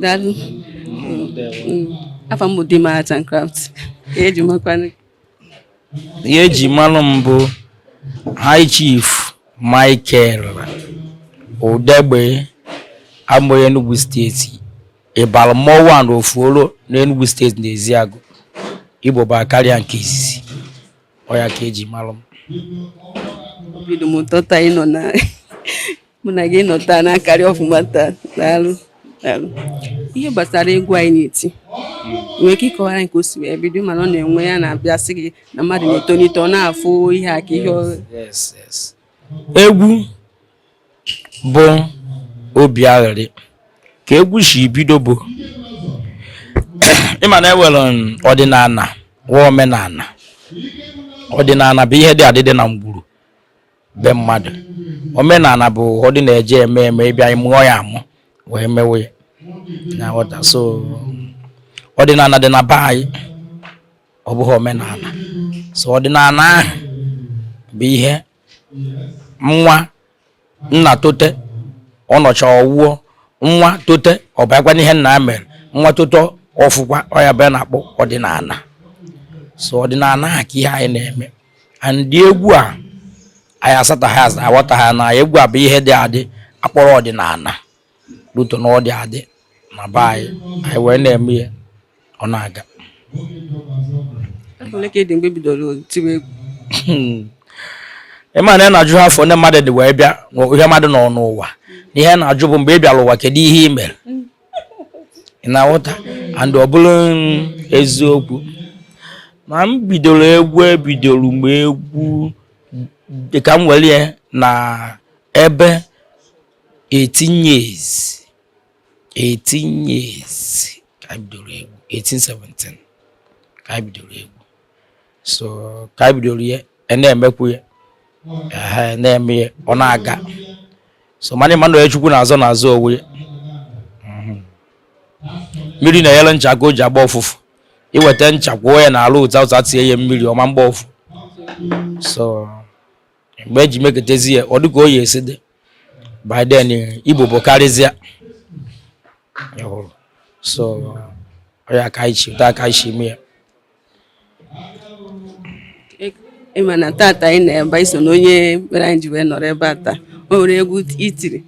daalụ afa m bụ Dima Art and Craft eji makwanụ ihe eji manụ m bụ High Chief Michael Udegbi amụrụ Enugu steeti ịbara mmọnwụ one of Olo n'Enugu steeti na Eziagụ ibobo akarịa nke izizi ọ ya ka eji malụ m obi dị m ụtọ taa ịnọ na mụ na gị nọ taa na-akarị ọfụma taa daalụ daalụ ihe gbasara egwu a ị na-eti ị nwere ike kọwara anyị ka o si wee bido mana ọ na-enwe ya na-abịa sị gị na mmadụ na-etolite ọ na-afụ ihe a ka ihe ọ- yes yes egwu bụ obi aghịrị ka egwu si bido bụ ịma na e nwere ọdịnala nwee omenala ọdịnala bụ ihe dị adị dị na ngwuru be mmadụ omenala bụ ọ dị na-eje eme eme ị bịa mụọ ya amụ wee mewe ya ị na-aghọta so ọdịnala dị na be anyị ọ bụghị omenala so ọdịnala ahụ bụ ihe nwa nna tote ọ nọcha ọ nwụọ nwa tote ọ bịakwa n'ihe nna ya mere nwa tote ọ fụkwa ọ ya bụ a na-akpọ ọdịnala so ọdịnala ahụ ka ihe anyị na-eme and egwu a anyị asataghị asa aghọtaghị na egwu a bụ ihe dị adị akpọrọ ọdịnala luto na ọ dị adị na be anyị anyị wee na-eme ya ọ na-aga ole ka ị dị mgbe i bidoro tiwe egwu ịma na a na-ajụha afọ one mmadụ dị wee bịa ihe mmadụ nọ n'ụwa na ihe a na-ajụ bụ mgbe ị bịara ụwa kedu ihe ị mere ị na-aghọta and ọ bụrụ eziokwu na m bidoro egwu ebidoro m egwu dịka m were ya na ebe 18 years 18 years ka anyị bidoro egwu 18 17 ka anyị bidoro egwu so ka anyị bidoro ya e na-emekwu ya e na-eme ya ọ na-aga so mana ịma na onye chukwu na-azọ na-azọ onwe ya mhm. mmiri na-enyere ncha aka o ji agba ụfụfụ i weta ncha kwụọ ya n'ala ụta ụta tie ya mmiri ọ ma gba ụfụ so mgbe eji meketezi ya ọ dịka oyi esi dị by then ibobo akarịzịa so ya ka anyị cheta aka isi mee ya ịma na tata ị nọ ebe a i so na onye mere anyị ji wee nọrọ ebe a taa o nwere egwu i tiri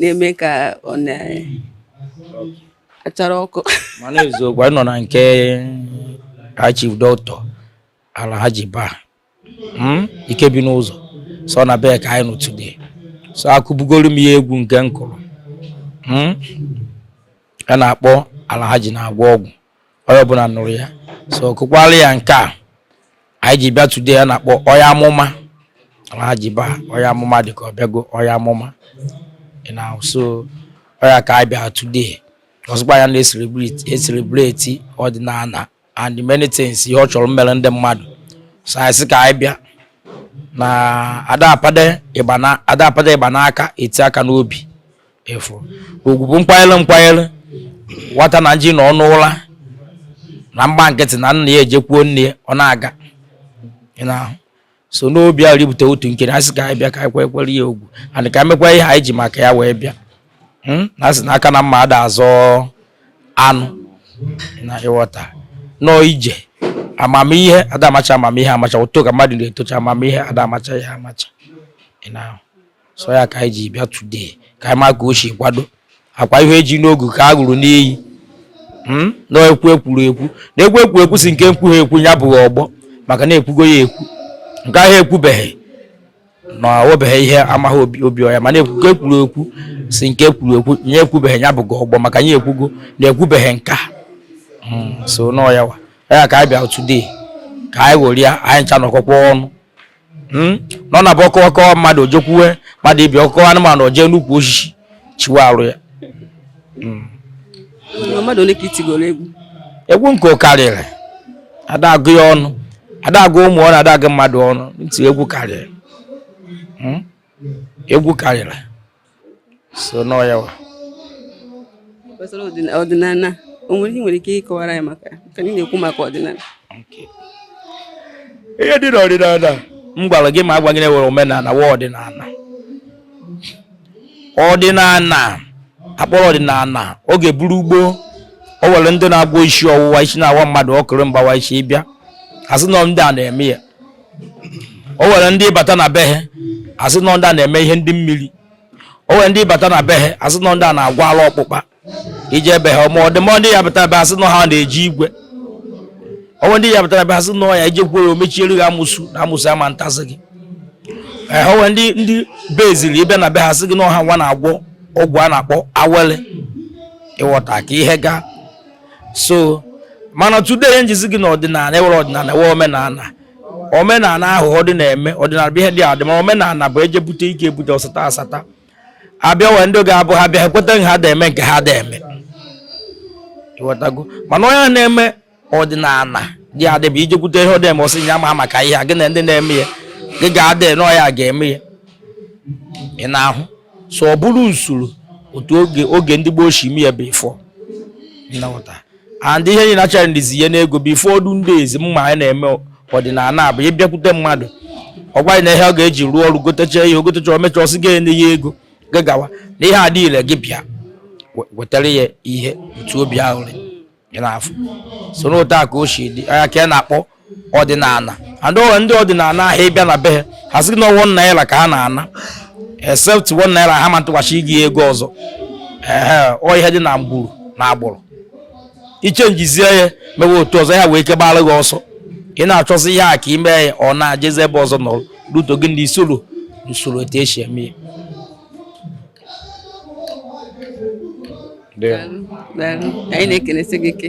na-eme ka ọ na-achara ọkụ mana eziokwu anyị nọ na nke High Chief Doctor Alhaji baa hmm? ike bi n'ụzọ so na bee ka anyị nọ today so akụbugoro m ya egwu nke m kụrụ hmm? a na-akpọ ala ha ji na-agwọ ọgwụ onye ọbụla nụrụ ya so kụkwara ya nke a anyị ji bịa today a na-akpọ onye amụma ala ha ji ba onye amụma dị ka ọ bịago onye amụma so ọ ya ka anyị bịa today ọzọkwa ya na-ecelebrate ọdịnala and many things ihe ọ chọrọ mmere ndị mmadụ so anyị sị ka anyị bịa na adapade igba n'aka eti aka n'obi efu ugwu bụ nkwanyere nkwanyere nwata na nji na ọnụ ụra na mgba nkịtị na nna ya ejekwuo nne ya ọ na-aga so n'obi ahụ ribute otu nke anyị sị ka anyị bịa ka anyị kụkwara ya egwu and ka e mekwa ihe anyị ji maka ya wee bịa hmm? na asị na aka na mma ada azọ anụ na ị ghọta n'ọ ije amamihe ada amacha amamihe amacha uto ka mmadụ na-etocha amamihe ada amacha ya amacha so ya ka anyị ji bịa today ka anyị ma ka o si kwado akwa ihe e ji n'ogu ka a ṅụrụ n'iyi hmm? na ekwu ekwuru ekwu na ekwu ekwu ekwu si nke nkwu ha ekwu ya bụghị ọgbọ maka na ekwugo ya ekwu nke ahụ ekwubeghị na obeghị ihe amaghị obi ọya mana ekwugo ekwuru ekwu si nke ekwuru ekwu ya ekwubeghị ya bụghị ọgbọ maka ya ekwugo na ekwubeghị nka hmm, so n'ọ ya wa ya ka anyị bịa today ka anyị ṅụrịa anyị ncha nọkọkwa ọnụ hmm? na ọ na-abụ ọkọ kọwa mmadụ o jekwuwe mmadụ ibe ọ kọwa anụmanụ o je n'ukwu osisi chiwe arụ ya hmm. egwu nke karịrị ada agụ ya ọnụ ada agụ ụmụ ọnụ ada agụ mmadụ ọnụ ntị egwu karịrị hmm? egwu karịrị so n'ọ ya wa gbasara ọdịnala o nwere ihe nwere ike ịkọwara ya maka ka anyị na-ekwu maka ọdịnala ihe dị n'ọdịnala m gwara gị m agwa gị na e nwere omenala nwee ọdịnala ọdịnala akpọrọ ọdịnala oge bụrụ gboo o nwere ndị na-agwọ isi ọwụwa isi na-awa mmadụ ọkụrụ mgbawa isi ị bịa asị na ndị a na-eme ya o nwere ndị bata na be ha asị n'ọ ndị a na-eme ihe ndị mmiri o nwere ndị bata na be ha asị n'ọ ndị a na-agwọ ala akpụkpa i je be ha ma ọdịmọ ndị ya bata ebe asị n'ọ ha na-eji igwe o nwere ndị ya batara ebe asị n'ọ ya i jekwuo ya o mechiere gị amusu na amusu ama atazi gị ee o nwere ndị ndị be eziri ị bịa na be ha sị gị na ọ ha nwa na-agwọ ọgwụ a na-akpọ awele ị ghọta ka ihe gaa so mana today ihe m ji sị gị na ọdịnala e nwere ọdịnala nwee omenala omenala ahụ ọ dị na-eme ọdịnala bụ ihe dị adị ma omenala bụ e je bute ike ebute ọsata asata abịa wee ndị ga-abụ ha bịa ekweta ha da eme nke ha da eme mana onye na-eme ọdịnala dị adị bụ ije bute ihe ọ dị eme ọ sị ya ma maka ihe a gị na ndị na-eme ya gị ga-adị n'ọya ga-eme ya ị na-ahụ so ọ bụrụ usoro otu oge oge ndị gboo si eme ya before and ihe anyị na challenges ihe n'ego before ọdụ ndị ezi mma anyị na-eme ọdịnala abụ ị bịakwute mmadụ ọ gwa gị na ihe ọ ga-eji rụọ ọrụ gotecha ihe ị gotecha o mecha ọ sị gị enye ya ego gagawa na ihe adịrị gị bịa wetara ya ihe otu obi ahụ n'afọ so n'otu a ka o si dị anya ka ị na-akpọ ọdịnala and o nwe ndị ọdịnala ahụ ị bịa na be ha ha sị na one naira ka ha na-ana except one naira ha ma naghachi gị ego ọzọ ehe ọ ihe dị n'agbụrụ n'agbụrụ ị changezie ya mewe otu ọzọ ha nwee ike gbara gị ọsọ ị na-achọzi ihe a ka i me ya ọ na-ajezi ebe ọzọ nọrọ ruto gị ndị i soro usoro etu esi eme ya anyị na-ekelesi gị ike